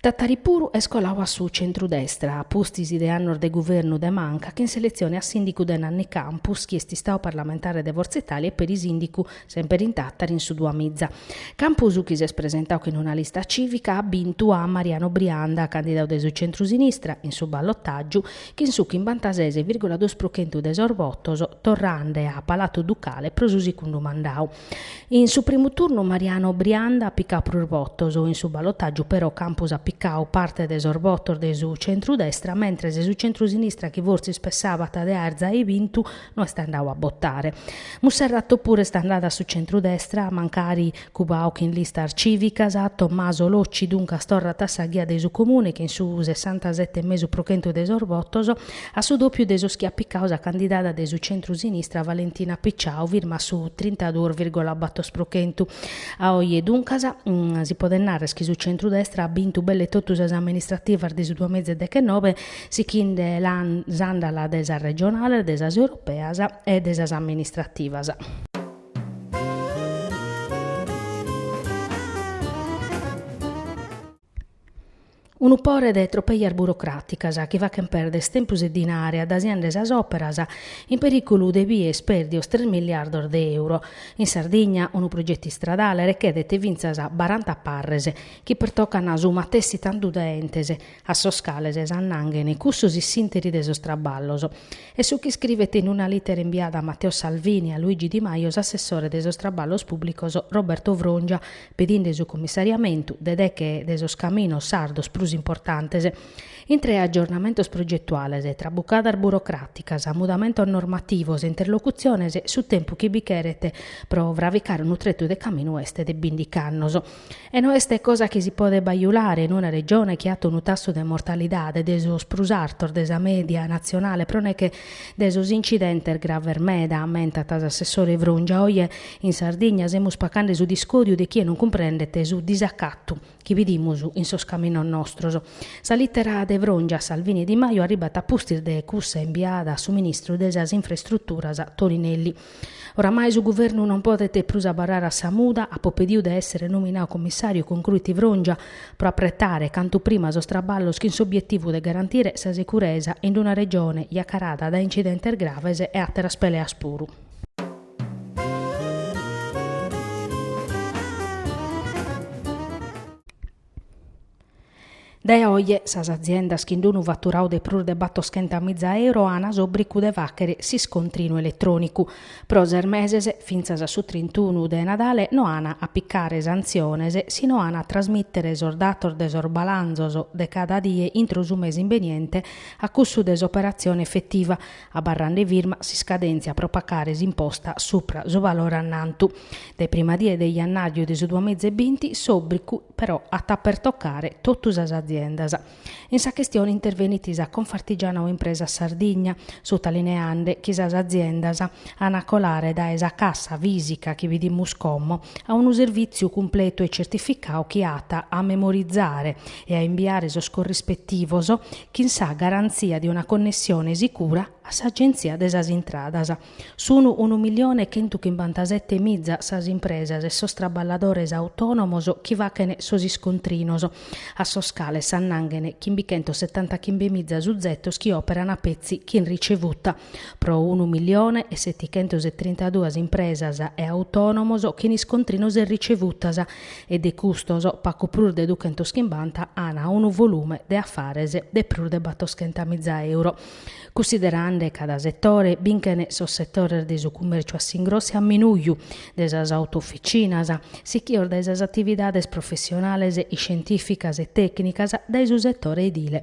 Tàtari puru est colau a su centru-destra, a pustis de annos de guvernu de manca, chin s'eletzione a sìndicu de Nanni Campus, chi est istau parlamentare de Fortza Italia e peri sìndicu Semper in Tàtari in su Duamiza. Campus chi s'est presentau chin una lista cìvica at bintu a Mariano Brianda, candidau de su centrusinistra, in su ballotàgiu, chin su chimbanta-ses virgola duos pro chentu de sos votos, torrende a Palatu Ducale pro su sigundu mandau. In su primu turnu Mariano Brianda at picau prus votos, in su ballotàgiu però Campus at picau parte de sos votos de su centrudestra, mentres su centrusinistra chi fortzis pessàbat de aer zai bintu No est andau a botare. Munserrato puru est andada a su centrudestra, mancari cubau chin listas civicas. Tommaso Locci duncas torrat a sa ghia de su Comune chin su sessantasete e mesu pro chentu de sos votos, a su dopiu de sos chi at picadu sa candidada de su centrusinistra Valentina Picciau firma a su trintaduos virgola battor pro chentu. A oje duncas si podet narrer chi su centrudestra at bintu belle totu sas amministrativas de su duamiza e dechenobe sichende s'àndala de sas regionales, de sas europeas e de sas amministrativas. Unu pore de tropejas burocràticas chi fachent pèrder tempus e dinare adasiande sas òperas in perìculu de bìer pèrdios tres miliardos de euro. In Sardigna unu progetu istradale rechédet fintzas baranta parres chi pertocant su matessi tantu de entes, a sos cales s'annanghen cussos in s'interi de sos traballos, est su chi iscrivet in una lìtera imbiada a Matteo Salvini e a Luigi Di Maio s'assessore de sos traballos pùblicos Roberto Frongia pedinde su commissariamentu de deche de sos caminos sardos prus importantes. Intre aggiornamentos progetuales, trabucadas burocràticas, mudamentos normativos e interlocutziones, su tempus chi bi cheret pro fravicare unu tretu de caminu est de bìndich'annos. E no est cosa chi si podet bajulare in una Regione chi at unu tassu de mortalidade de sos prus artos de sa mèdia natzionale pro neche de sos incidentes graves meda, ammentat s'assessore Frongia. Oje in Sardigna semus pacande su discòdiu de chie non cumprendet su disacatu chi bidimus in sos caminos nostros. Sa lìtera de Frongia a Salvini e Di Maio arribat a pustis de cussa imbiada a su ministru de sas Infraestruturas Toninelli. Oramai su Guvernu non podet prus abarrare a sa muda, apo pediu de èssere nominau comissàriu, concruit Frongia, pro apretare cantu prima sos traballos chin s'obietivu de garantire sa sicuresa in una Regione jacarada dae incidentes graves e àteras peleas puru. Dae oje sas aziendas chin d'unu faturau de prus de battoschenta miza euro ana s'obbricu de fàchere s'iscontrinu eletrònicu. Pro ses meses, fintzas a su trintunu de Nadale, no ana a picare santziones si no ana a trasmìtere sos datos de sos balanzos de cada die intro su mese imbeniente a cussu de s'operatzione efetiva, abarrande firma s'iscadèntzia pro pacare s'imposta supra su valore annantu de prima die de jannàriu de su duamiza e binti, s'òbricu però at a pertocare totu sas aziendas. In sa chistione intervenit sa Confartigianau Impresas Sardigna, sutalineande chi sas aziendas an a colare dae sa cassa fìsica chi bidimus como a unu servìtziu cumpletu e certificau chi at a memorizare e a imbiare sos corrispetivos chin sa garantzia de una connessione sicura a s'Agenzia de sas Intradas. Sun unu milione e chentu chimbantasette miza sas impresas e sos traballadores autònomos chi fachen sos iscontrinos, a sos cales s'annanghen chimbichentosetantachimbe miza suzetos chi òperan petzi chin ricevuta. pro unu milione e setichentos e trintaduas impresas e autònomos chin iscontrinos e ricevutas e de custos pacu prus de duchentos chimbanta an unu volume de afares de prus de battoschenta miza euro. Cunsiderande cada setore, binchen sos setores de su cumèrciu a s'ingrossu e a minuju, de sas autofitzinas, sichios dae sas atividades professionales, iscientìficas e tècnicas, dae su setore edile.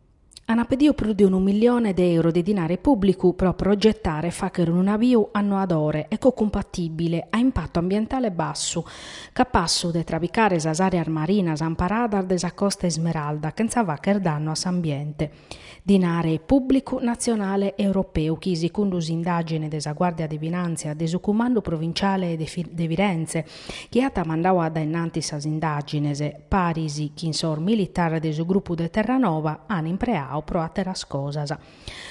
Ana pediu prus de unu milione de euro de dinare pubblicu pro progettare e fachere unu naviu annoadore, ecocumpatibile, a impattu ambientale bassu, capassu de trabicare sas areas marinas amparadas de sa Costa Ismeralda chentza facher dannu a s'ambiente. Dinare pubblicu nazionale e europeu chi, sicundu s'indagine de sa Guardia de Finanzia de su Cumandu Provinciale de Firenze, chi at mandau a dae innantis sas indàgines, paris chin sos militares de su grupu de Terranova an impreau pro àteras cosas.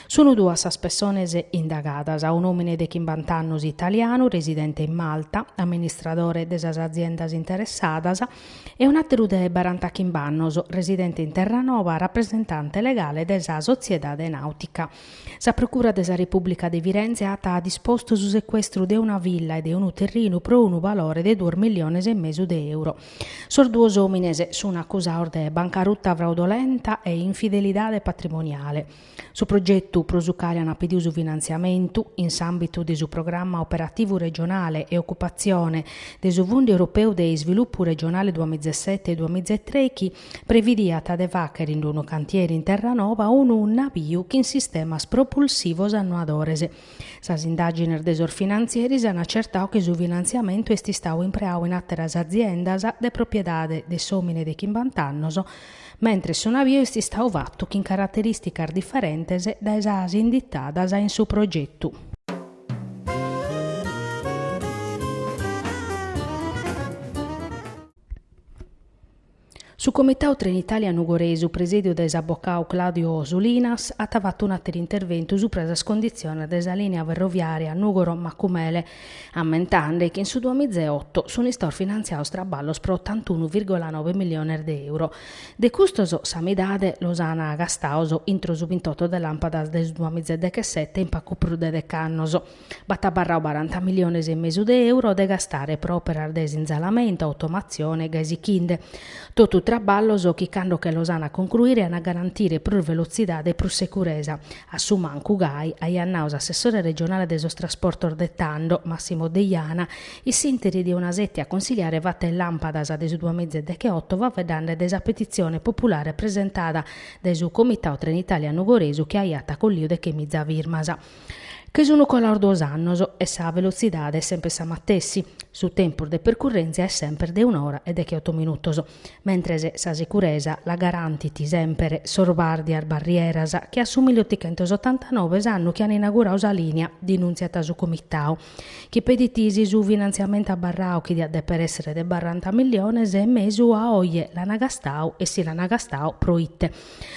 Sunt duas sas pessones indagadas, un'òmine de chimbant'annos italianu residente in Malta, amministradore de sas aziendas interessadas, e un'àteru de barantachimb'annos residente in Terranova, rapresentante legale de sa sotziedade nàutica. Sa Procura de sa Repùblica de Firenze at dispostu su secuestru de una villa e de unu terrinu pro unu valore de duos milliones e mesu de euro. Sos duos òmines sunt acusaos de bancaruta fraudolenta e infidelidade patrimoniale. Su progetu pro su cale ant pediu su finantziamentu, in s'àmbitu de su Programma Operativu Regionale e Ocupatzione de su Fundu Europeu de Isvilupu Regionale duamizaesete-duamizaetrechi, previdiat de fàghere in unu cantieri in Terranoba unu nabiu chin sistemas propulsivos annoadores. Sas indàgines de sos finantzieris an acertadu chi su finantziamentu est istadu impreadu in àteras aziendas de propiedade de s'òmine de chimbant'annos, mentres su nabiu est istadu fatu chin caraterìsticas diferentes dae sas inditadas in su progetu. Su Comitau Trenitalia Nugoresu presèdiu dae s'abocau Claudio Solinas at fatu un'àteru interventu subra sas conditziones de sa lìnia ferroviària Nùgoro-Macumele, ammentande chi in su duamiza e otto sunt istados finantziados traballos pro otantunu vìrgula nobe miliones de euro. De custos sa midade los ant gastados intro su bintotto de làmpadas de su duamizadechesete in pagu prus de dec'annos. B'at abarrau baranta miliones e mesu de euro de gastare pro operas de sinzalamento, automatzione, gai sichinde. Totu traballos chi cando che los ana concruire ana garantire prus velotzidade e prus seguresa, a su mancu gai, aiat nau s'assessore regionale de sos trasportos de tando, Massimo Deiana, in s'interi de una sètia consigliare fatta in Lampadas de su duamizadechesete faeddande de sa petitzione populare presentada dae su Comitau Trenitalia Nugoresu chi aiat colliu dechemiza firmas. Che sun colados duos annos e sa velotzidade est semper sa matessi, su tempus de percurrèntzia est semper de un'ora e decheoto minutos, mentres sa sicuresa la garantin semper sos bàrdias barrieras che a su milleotichentos otantanove, s'annu chi an inauguradu sa lìnia, denùntziat su Comitadu, chi pedit si su finantziamentu abarradu chi diat dèpere èssere de barranta miliones e mesu a oje l'an gastadu e si l'an gastadu pro ite.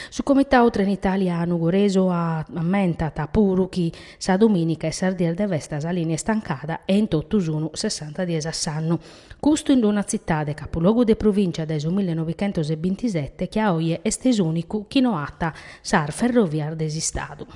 Su Comitau Trenitalia Nugoresu ammentat puru chi sa domìnica e sas dies de festa sa lìnia est tancada e in totu sunu sessanta dies a s'annu. Custu in una tzitade, capulogu de provìncia dae su millenovichentos e bintisete, chi a oje est s'ùnicu chi no at sas ferrovias de s'Istadu.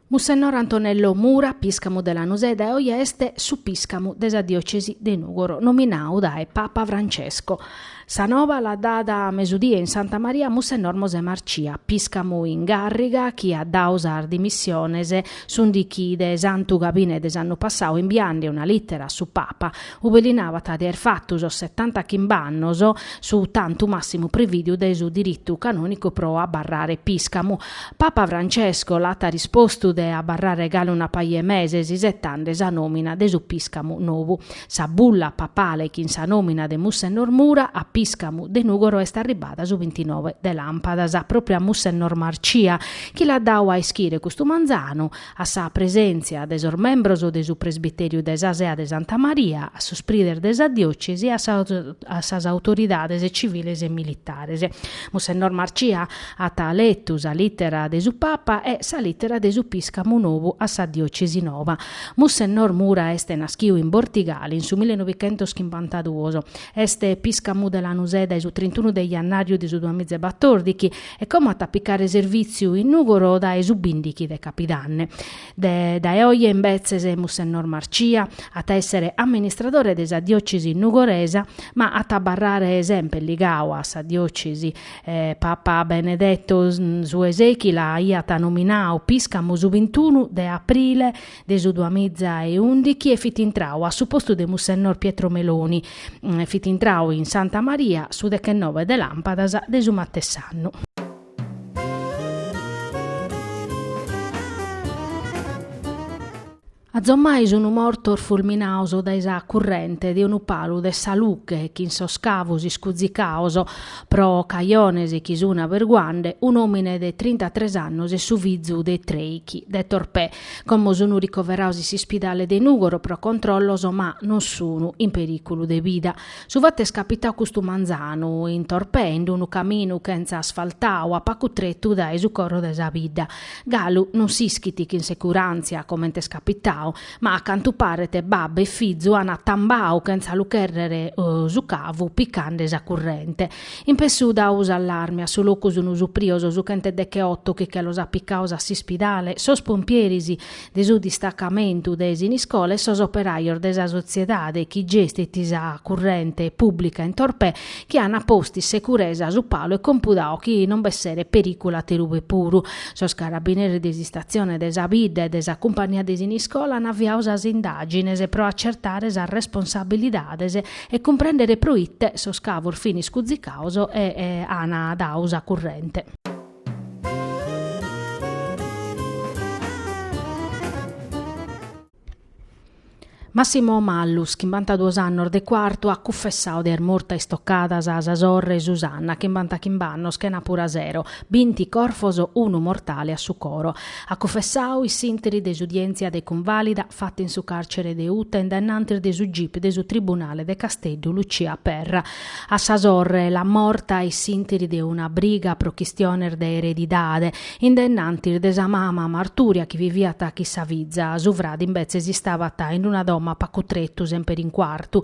Mussennor Antonello Mura, piscamu de Lanusè, dae oje est su piscamu de sa diocesi de Nugoro, nominau dae Papa Francesco. Sa noba l'at dada a mesudie in Santa Maria Mussennor Mosè Marcia, piscamu in càrriga chi at dau sas dimissiones s'ùndichi de Santu Gabine de s'annu passau imbiande una lìtera a su Papa, ube li nabat de aer fatu sos setanta chimb'annos, su tantu màssimu prevìdiu dae su diritu canònicu pro abarrare pìscamu. Papa Francesco l'at rispostu de abarrare galu una paja 'e meses isetande sa nòmina de su pìscamu nou. Sa bulla papale chin sa nòmina de Mussennor Mura a pìscamu de Nùgoro est arribbada su bintinoe de làmpadas, pròpriu a Mussennor Marcia, chi l'at dadu a ischire custu manzanu, a sa presèntzia de sos membros de su presbitèriu de sa Sea de Santa Maria, a sos prides de sa diòcesi e a sas autoridades civiles e militares. Mussennor Marcia at letu sa lìtera de su Papa e sa lìtera de su pìscamu nou a sa diòcesi nova. Mussennor Mura est naschiu in Bortigali in su millenovichentos chimbantaduos. Est pìscamu de Lanusè dae su trintunu de jannàriu de su duamizabatordighi e como at a picare servìtziu in Nùgoro dae su bìndighi de capidanne. De dae oje imbetzes Mussennor Marcia at a èssere amministradore de sa diòcesi nugoresa, ma at a abarrare semper ligadu a sa diòcesi. Papa Benedetto su 'e sèichi l'aiat nominadu pìscamu su bintunu de aprile de su duamiza e ùndichi e fit intrau a su postu de Mussennor Pietro Meloni, fit intrau in Santa Maria su dechenove de lampadas de su matess'annu. Azommai sunu mortos fulminados dae sa currente de unu palu de sa lughe chin sos cavos iscuzicados pro cajones chi sun averguande un'omine de trintatres annos e su fizu de trèichi de Torpè Como sunu ricoverados in s'ispidale de Nùgoro pro controllos ma non sunu in perìculu de vida. Su fatu est capitadu custu manzanu in Torpè in unu caminu chentza asfaltadu a pagu tretu dae su coro de sa bidda. Galu non s'ischit chin securàntzia comente est capitadu ma a cantu paret babbu e fizu ant atambadu chentza lu chèrrere su cavu picande sa currente. In pessu dau s'allarmi a su locu sunu suprios su chent'e decheotu chi che los at picados a s'ispidale, sos pompieris de su distacamentu de Siniscola e sos operajos de sa sotziedade chi gestit sa currente pùblica in Torpè chi an postu in securesa su palu e compudadu chi non b'esseret perìculu aterube puru. Sos carabineris de s'istatzione de sa bidda e de sa cumpagnia de Siniscola an aviadu sas indàgines pro atzertare sas responsabilidades e cumprendere pro ite sos cavos fin iscuzicados e an dadu sa currente. Massimo Mallus, chimbantaduos annos de Cuartu, at cunfessadu de aer mortu a istocadas a sa sorre Susanna, chimbantachimbe annos chenàpura a sero, binti corfos unu mortale a su coro. At cunfessau in s'interi de s'udièntzia de cunvàlida fata in su càrcere de Uta in dae innantis de su gip de su tribunale de Casteddu Lucia Perra. A sa sorre l'at morta in s'interi de una briga pro chistiones de eredidade in dae innantis de sa mama martùria chi viviat chin sa fiza. Su frade imbetzes istabat in una domo a pacu tretu, semper in Cuartu.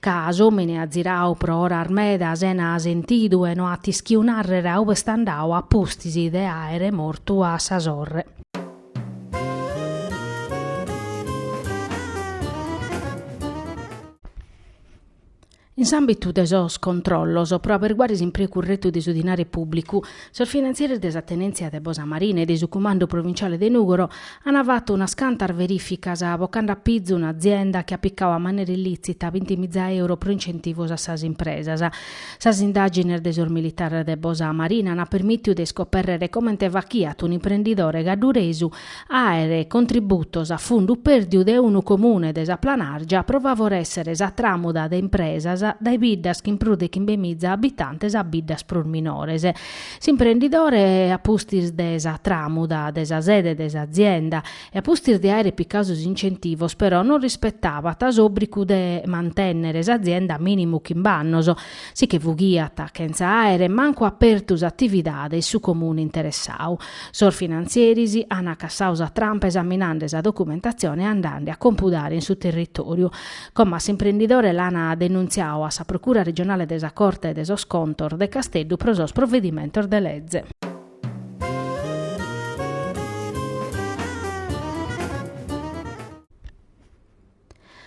Ca s'omine at zirau pro oras meda sena sentidu e no at ischiu narrere a ube est andau a pustis de aere mortu a sa sorre. In s'ambitu de sos controllos pro aberguare s'impreu curretu de su dinare publicu, Sos finantzeris de sa tenèntzia de Bosa Marina e de su Cumandu Provintziale de Nùgoro ant fatu unas cantas verìficas bocande a pizu un'azienda chi at picau a manera illìtzita binti miza euro pro incentivos a sas impresas. Sas indàgines de sos militares de Bosa Marina ant permìtiu de iscopèrrere comente fachiat un'imprendidore cadduresu àere contributos a fundu pèrdiu de unu Comune de sa Planàrgia pro favorèssere sa tràmuda de impresas dae biddas chin prus de chimbemiza abitantes a biddas prus minores. S'imprendidore, a pustis de sa tràmuda de sa sede de s'azienda e a pustis de àere picau sos incentivos però non rispetabat s'òbrigu de mantènnere s'azienda mìnimu chimb'annos, si che fughiat chentza àere mancu apertu s'atividade in su Comune interessau. Sos finantzieris an cassau sa trampa esaminande sa documentatzione e andande a compudare in su territòriu. Como a s'imprendidore l'an denuntziau a sa Procura Regionale de sa Corte de sos Contos de Casteddu pro sos provedimentos de leze.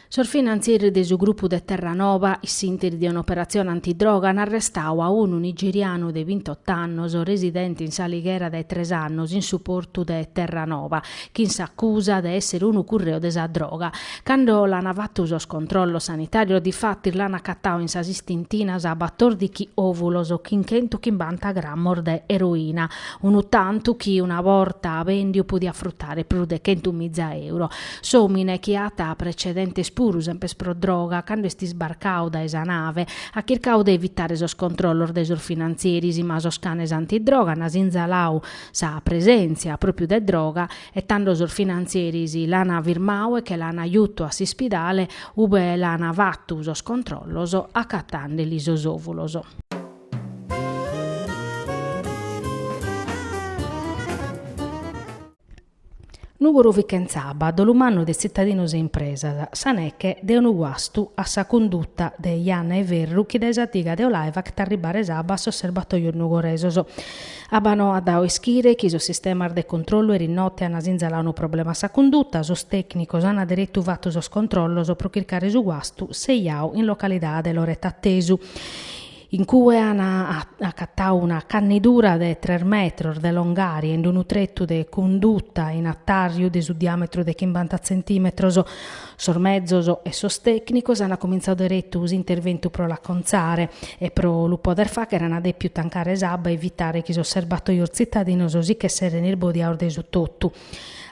Sos finantzieris de su grupu de Terranoba, in s'interi de un'operatzione antidroga, an arrestau a unu nigerianu de bintotto annos, residente in s'Alighera dae tres annos in su portu de Terranoba, chin s'acusa de essere unu curreu de sa droga. Cando l'an fattu sos controllos sanitarios difatis l'an acatau in sas istintinas batordichi ovulos chin chentuchimbanta grammos de eroina, unu tantu chi una borta bèndiu podiat frutare prus de chentu miza euro. S'òmine chi at precedentes puru sempes pro droga, cando est isbarcau dae sa nave, at chircau de evitare sos controllos de sos finantzieris, ma sos canes antidroga an sinzalau sa presèntzia pròpiu de droga e tando sos finantzieris l'an firmau e che l'an jutu a s'ispidale ube l'an fatu sos controllos acatandeli sos òvulos. Nùgoro fit chentza abba, dolu mannu de tzitadinos e impresas, sa neche de unu guastu a sa cunduta de Janna 'e Ferru chi dae sa diga de Olai fachet arribare s'abba a sos serbatòios nugoresos. Abbanoa at dau a ischire chi sos sistemas de controllu eris notte an sinzalau unu problema a sa cunduta, sos tècnicos an deretu fatu sos controllos pro chircare su guastu sejau in localidade Loret'Attesu. in cue an acatau una cannidura de tres metros de longària in unu tretu de cunduta in atàrriu de su diàmetru de chimbanta tzentimetros. Sos mezos e sos tècnicos an cumintzau deretu s'interventu pro l'acontzare e pro lu poder fàchere an dèpiu tancare s'abba e evitare chi sos serbatoios tzitadinos si ch'esserent isbodiaos de su totu.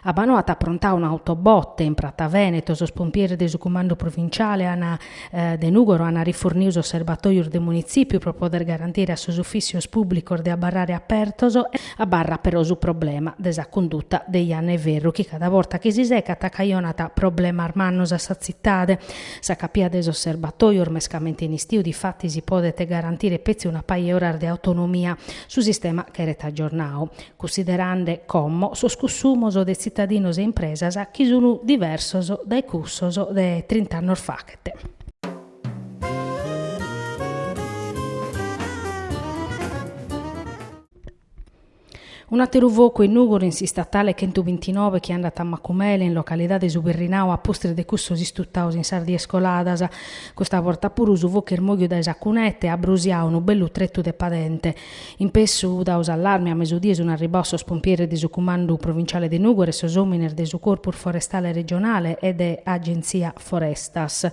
Abbanoa at aprontau un'autobotte in Prata Vèneto, sos pompieres de su Cumandu Provintziale de Nùgoro ant rifurniu sos serbatòius de Munitzìpiu pro poder garantire a sos ufìssios pùblicos de abarrare apertos, abarrat però su problema de sa cunduta de Janna 'e Ferru chi cada borta chi si secat cajonat problemas mannos a sa tzitade. Sa capia de sos serbatòios, mescamente in istiu, difatis podet garantire petzi una paja 'e oras de autonomia. Su sistema cheret agiornau. cunsiderande como sos cussumos de tzitadinos e impresas chi sun diversos dae cussos de trint'annos fachet. Un'àteru focu in Nùgoro in s'istatale chentu bintinove chi andat a Macumele, in localidade Su Berrinau, a pustis de cussos istutaos in sas dies coladas. Custa borta puru su focu est mòghiu dae sa cuneta e at brusiau unu bellu tretu de padente. In pessu dau s'allarmi, a mesudie sun arribbaos sos pompieres de su Cumandu Provintziale de Nùgoro e sos òmines de su Corpus Forestale Regionale e de Agentzia Forestas.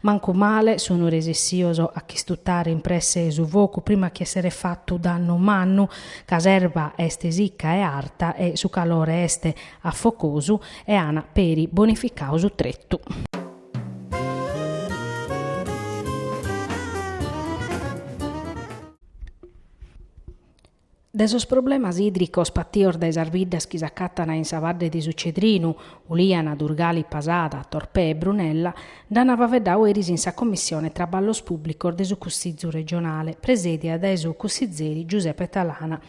Mancu male sun resessios a ch'istutare in presse su focu prima chi esseret fatu dannu mannu, ca s'erba est sicca e arta e su calore est afocosu e an peri bonificau su tretu. De sos problemas idricos patios dae sas biddas chi s'acatan in sa badde de su Cedrinu, Uliana, Durgali, Pasada, Torpè e Brunella, nd'an faveddau eris in sa Commissione Traballos Publicos de su Cussizu Regionale, presedia dae su cussizeri Giuseppe Talanas.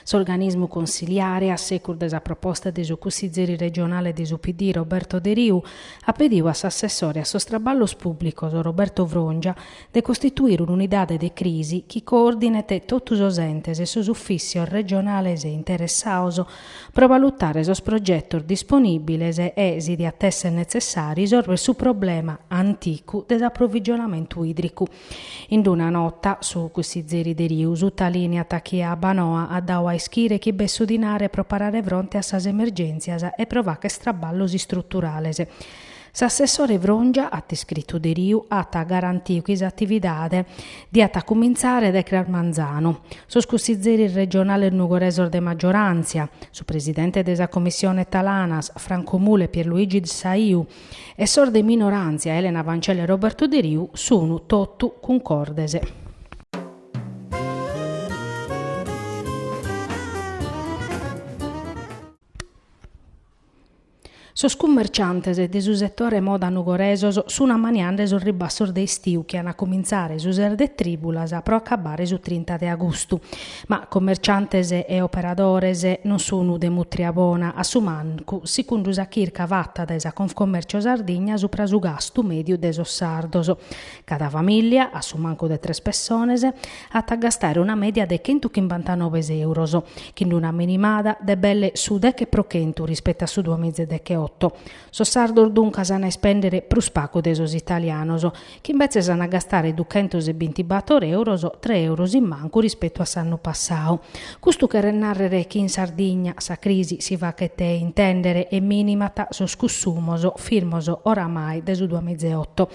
S'organismu consiliare, a secus de sa proposta de su cussizeri regionale de su PD Roberto Deriu, at pediu a s'assessore a sos Traballos Publicos Roberto Frongia de costituire un'unidade de crisi chi coordinet totu sos entes e sos ufìssios regionales interessaos pro valutare sos progetos disponìbiles e, si diat èssere netzessàriu, isorvere su problema anticu de s'aprovigionamentu ìdricu. In una nota, su cussizeri Deriu sutalìniat chi Abbanoa at dau a ischire chi b'est su dinare pro parare fronte a sas emergèntzias e pro fàcher traballos istruturales. S'assessore Frongia at iscritu Deriu at garantiu chi s'atividade diat cumintzare dae cras manzanu. Sos cussitzeris regionales nugoresos de maggioràntzia, su presidente de sa Commissione Talanas, Franco Mula e Pierluigi Saiu, e sos de minoràntzia Elena Fancello e Roberto Deriu sunu totu cuncordes. Sos cummerciantes de su setore moda nugoresu sun ammaniende sos ribassos de istiu chi an a comintzare su ses de trìbulas pro acabbare su trinta de agustu. Ma commerciantes e operadores non sun de mutria bona, a su mancu sicundu sa chirca fatta dae sa Confcommercio Sardigna supra su gastu mèdiu de sos sardos. Cada famìllia, a su mancu de tres pessones, at a gastare una mèdia de chentu chimbantanove euros, chin d'una minimada de belle su deche pro chentu rispetu a su duas miza e deche oto. Sos sardos duncas an a ispèndere prus pagu de sos italianos, chi imbetzes an a gastare duchentos e bintibator euros, tres euros in mancu rispetu a s'annu passadu. Custu cheret nàrrere chi in Sardigna sa crisi si faghet intèndere e minimat sos cussumos firmos oramai de su duas miza e oto.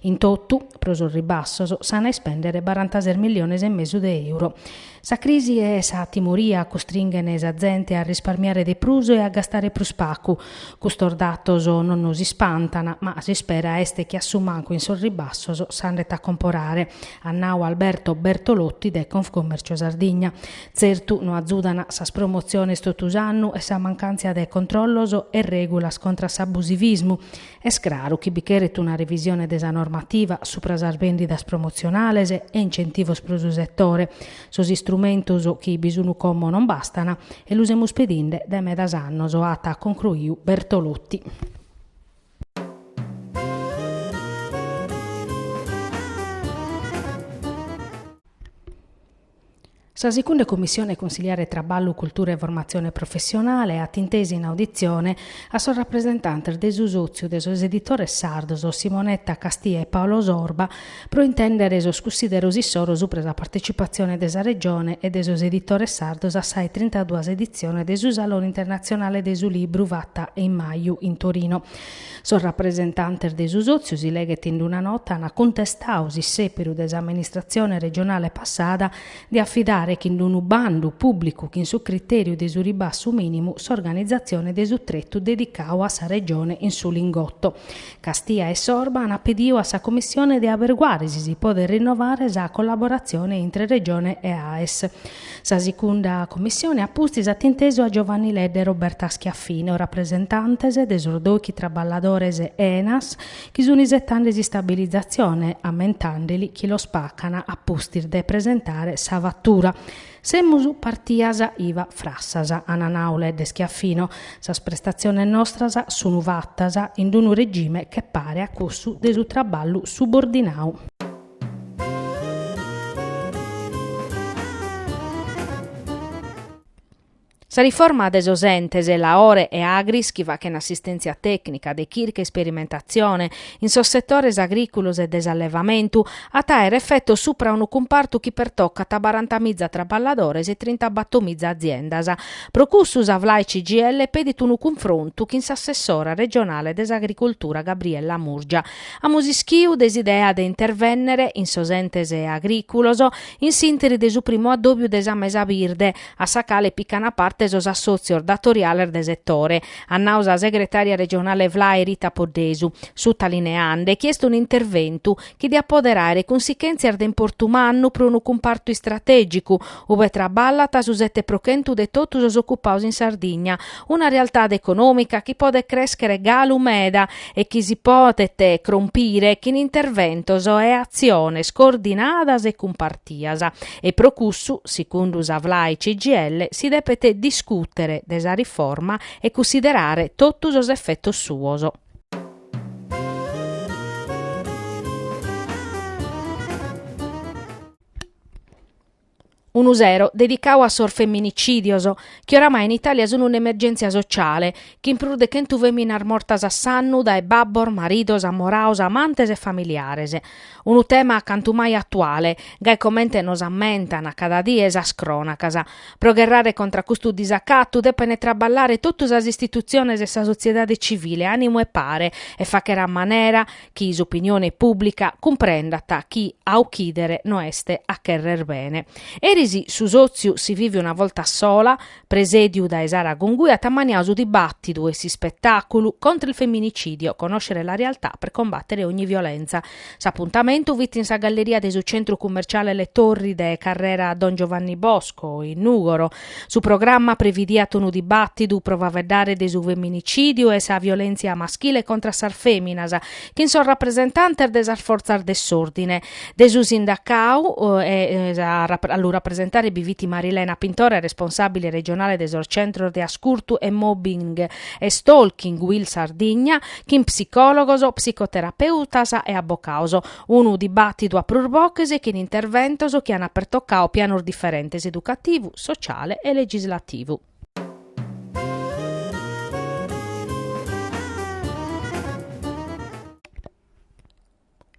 In totu, pro sos ribassos, s'an a ispèndere barantases milliones e mesu de euro. Sa crisi e sa timoria custringhen sa zente a risparmiare de prus e a gastare prus pagu. Custos datos non nos ispantan, ma s'ispera est chi a su mancu in sos ribassos s'andet a comporare, at nau Alberto Bertolotti de Confcommercio Sardigna. Tzertu no azudan sas promotziones totu s'annu e sa mancàntzia de controllos e règulas contra a s'abusivismu, Est craru chi bi cheret una revisione de sa normativa supra sas bèndidas promotzionales e incentivos pro su setore. Sos istrumentos chi bi sun como non bastan e lu semus pedinde dae medas annos, at concruiu Bertolotti. Sa Sigunda Commissione Consiliare Traballu, Cultura e Formatzione Professionale at intesu in auditzione a sos rapresentantes de su Sòtziu de sos Editores Sardos Simonetta Castia e Paolo Sorba pro intèndere sos cussideros issoro subra sa partetzipatzione de sa Regione e de sos Editores Sardos a sa 'e trintaduas editzione de su Salone Internatzionale de su Libru fata in maju in Torino. Sos rapresentantes de su sòtziu, si leghet in una nota, ant cuntestadu s'issèperu de s'amministratzione regionale passada de afidare chin d'unu bandu pùblicu chin su critèriu de su ribassu mìnimu s'organizatzione de su tretu dedicadu a sa Regione in su Lingotto. Castia e Sorba ant pedidu a sa Commissione de aberguare si si podet rinnovare sa collaboratzione intre Regione e AES. Sa Sigunda Commissione a pustis at intesu a Giovanni Ledda e Roberta Schiaffino, rapresentantes de sos dòichi traballadores Enas chi sun isetande s'istabilizatzione, ammentande·li chi los pacan a pustis de presentare sa fatura. Semus partias iva frassas, ana nau Ledda e Schiaffino, sas prestatziones nostras sun fatas in unu regime che paret a cussu de su traballu subordinau. Sa riforma de sos Entes Laore e Agris chi fachent assistèntzia tècnica, de chirca e isperimentatzione in sos setores agrìculos e de s'allevamentu at a àere efetos supra unu cumpartu chi pertocat barantamiza traballadores e trintabattomiza aziendas. Pro cussu sa Flai CGIL pedit unu cunfrontu chin s'assessora regionale de s'Agricultura Gabriella Murgia. Amus ischiu de s'idea de intervènnere in sos entes agrìculos in s'interi de su primu addòbiu de sa mesa birde, a sa cale picana parte sos assòtzios datoriales de setore, at nau sa segretària regionale FLAI Rita Poddesu, sutalineande chi est un'interventu chi diat pòdere àere cunsichèntzias de importu mannu pro unu cumpartu istratègicu, ue traballat su sete pro chentu de totu sos ocupados in Sardigna, una realtade econòmica chi podet crèschere galu meda e chi si podet crompire chin interventos e atziones coordinadas e cumpartias, e pro cussu, secundu sa FLAI CGIL, si depet discùtere de sa riforma e cunsiderare totu sos efetos suos. Unu sero dedicau a sos femminicìdios, chi oramai in Itàlia sunt un'emergèntzia sotziale, chin prus de chentu fèminas mortas a s'annu dae babbos, maridos, amoraos, amantes e familiares. Unu tema cantu mai atuale, gai comente nos ammentan cada die sas crònacas. Pro gherrare contra custu disacatu depent traballare totu sas istitutziones e sa sotziedade tzivile a manu 'e pare e fàchere a manera chi s'opinione pùblica cumprendat chi a ochìdere no est a cherrer bene. Eris su sòtziu Si vivi una volta sola, presèdiu dae Sara Gungui, at ammaniau su dibàtidu e s'ispetàculu Contra il femminicidio, conoscere la realtà per combattere ogni violenza. S'apuntamentu fit in sa galleria de su centru cummerciale Le Torri de carrera Don Giovanni Bosco, in Nùgoro, Su programma previdiat unu dibàtidu pro faveddare de su feminicìdiu e sa violèntzia maschile contra sas fèminas chin sos rapresentantes de sas fortzas de s'òrdine, de su sindacau e a lu rapresentare bi fit Marilena Pintore, responsàbile regionale de sos centros de ascurtu e mobbing e stalking Uil Sardigna, chin psicòlogos, psicoterapeutas e abbocaos. Unu dibàtidu a prus boches e chin interventos chi ant pertocadu pianos diferentes, educativu, sociale e legislativu.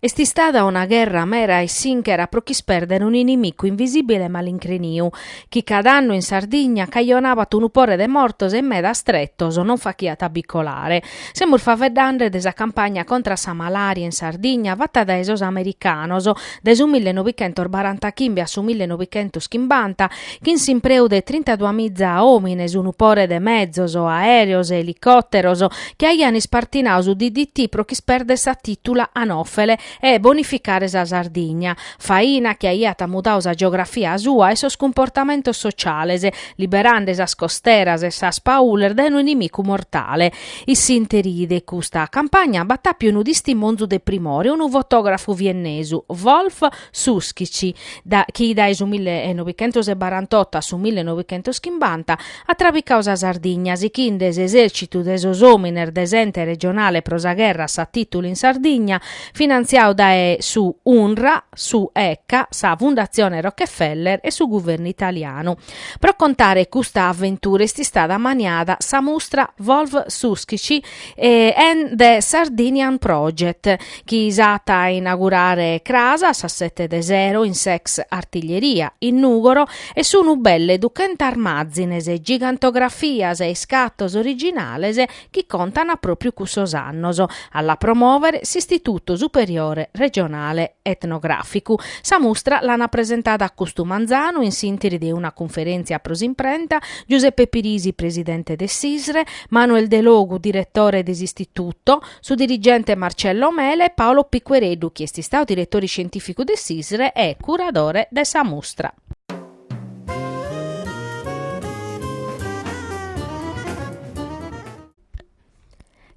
Est istada una gherra mera e sinchera pro ch'ispèrder un'inimicu invisìbile e malincreniu, chi cada annu in Sardigna cajonabat unu pore de mortos e medas tretos non fachiat a bi colare. Semus faveddande de sa campagna contra a sa malària in Sardigna fata dae sos americanos dae su mille novichentos barantachimbe a su mille novichentos chimbanta chin s'impreu de trintaduas miza òmines, unu pore de mezos, aèreos e elicòteros, chi aian ispartinadu su DDT pro ch'ispèrder sa tìtula anòfele e bonificare sa Sardigna, faina chi aiat mudadu sa geografia sua e sos cumportamentos sociales, liberande sas costeras e sas paules dae unu inimicu mortale. In s'ìnteri de custa campagna b'at àpiu unu tistimonzu de primore, unu fotògrafu viennesu, Wolf Suschitzky, chi dae su mille e novichentos e barantotto a su mille e novichentos chimbanta At trabicau sa Sardigna sichinde s'esèrcitu de sos omines de s'Ente Regionale pro sa Gherra a sa Tìtula in Sardigna, finantziau dae su UNRRA, su ECA, sa Fundatzione Rockefeller e su Guvernu Italianu. Pro contare custa aventura est istada maniada sa mustra Wolf Suschitzky and the Sardinian Project, chi s'at a inagurare cras a sas sete de sero in s'ex Artiglieria, in Nùgoro, e sunu belle duchentas màzines, gigantografias e iscatos originales chi contan pròpiu cussos annos, a la promòvere s'Istitutu Superiore Regionale Etnogràficu. Sa mustra l'ant presentada custu manzanu in s'ìntiri de una cunferèntzia pro s'imprenta, Giuseppe Pirisi, presidente de s'ISRE, Manuel Delogu, diretore de s'Istituto, su dirigente Marcello Mele e Paolo Piquereddu, chi est istadu diretore scientìficu de s'ISRE e curadore de sa mustra.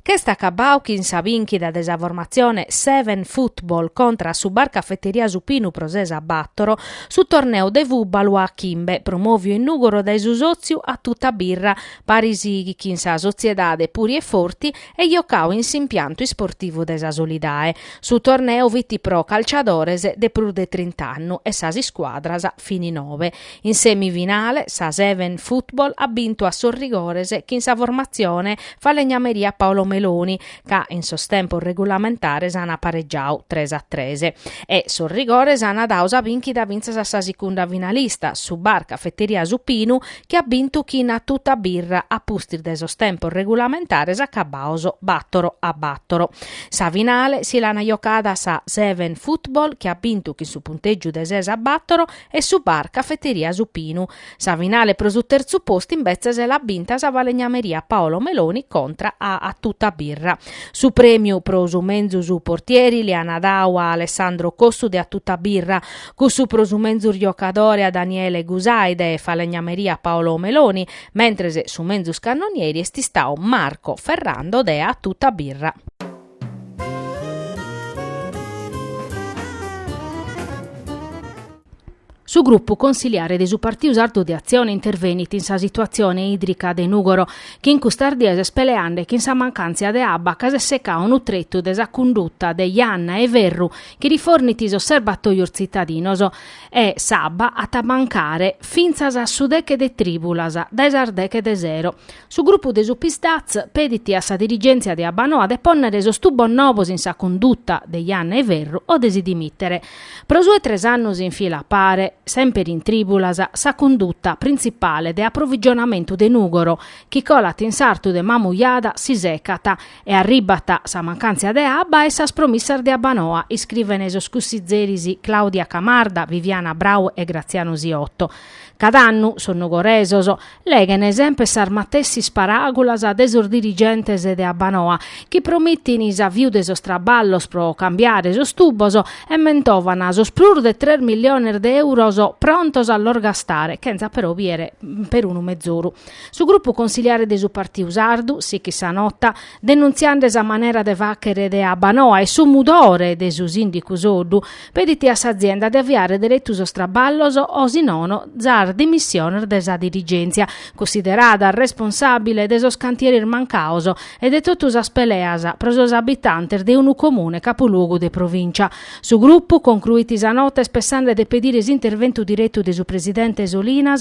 Ch'est acabbadu chin sa bìnchita de sa formatzione Seven Football contra a su Bar Cafeteria Su Pinu pro ses a bàtoro, su torneu de fùbalu a chimbe, promòviu in Nùgoro dae su sòtziu A Tutta Birra, Paris chin sa sotziedade Puri e Forti e jocau in s'impiantu isportivu de Sa Solidae. Su torneu fit pro calciadores de prus de trint'annos e sas iscuadras fini nobe. In semifinale sa Seven Football at bintu a sos rigores chin sa formatzione falegnameria Paolo Meloni ca in sos tempos regulamentares an aparegiau tres a tres e sos rigores an dau sa bìnchita fintzas a sa sicunda finalista, su bar Cafeteria Su Pinu, chi at bintu chin A Tuta Birra a pustis de sos tempos regulamentares acabados battoro a battoro. Sa finale si l'ana jocada sa Seven Football chi at bintu chin su punteggiu de ses a battoro e su bar Cafeteria Su Pinu. Sa finale pro su terzu postu imbetzes l'at binta sa falegnameria Paolo Meloni contra a A Tuta Birra. Su premiu pro su menzus portieri l'ana dadu a Alessandro Cossu de A Tuta Birra, Cussu pro su menzus giocadore a Daniele Gusai de falegnameria Paolo Meloni, mentres su menzus cannonieri est istadu Marco Ferrando de A Tutta Birra. Su grupu consiliare de su Partidu Sardu de Atzione intervenit in sa situatzione ìdrica de Nùgoro, chi in custas dies est peleande chin sa mancàntzia de abba ca s'est secadu unu tretu de sa cunduta de Janna e Ferru chi rifornit sos serbatòios tzitadinos e, s'abba, at a mancare fintzas a su deche de trìbulas dae sas deche de sero. Su grupu de su PSd'Az pedit a sa dirigèntzia de Abbanoa de pònnere sos tubos nobos in sa cunduta de Janna e Ferru o de si dimìtere. Pro su 'e tres annos in fila a pare, semper in trìbulas, sa cunduta printzipale de aprovigionamentu de Nùgoro, chi colat in sartu de Mamujada, si secat E arribat sa mancàntzia de abba e sas promissas de Abbanoa, iscrivene sos cussizeris Claudia Camarda, Viviana Brau e Graziano Siotto. Cada annu sos nogoresos leghene semper sas matessis paràgulas de sos dirigentes de Abbanoa, chi promittin s'aviu de sos traballos pro cambiare sos tubos e mentovan sos prus de tres milliones de euros prontos a los gastare, chentza però biere perunu mezoru. Su grupu consiliare de su Partiu Sardu sichit sa nota denunziande sa manera de fàchere de Abbanoa e su mudore de su sìndicu Soddu pedit a s'azienda de aviare deretu sos traballos o si nono sas dimissiones de sa dirigèntzia cussiderada responsàbile de sos cantieris mancados e de totu sas peleas pro sos abitantes de unu comune capuluogu de provìncia. Su grupu concruit sa nota est pessande de pedire s'interventu diretu de su presidente Solinas,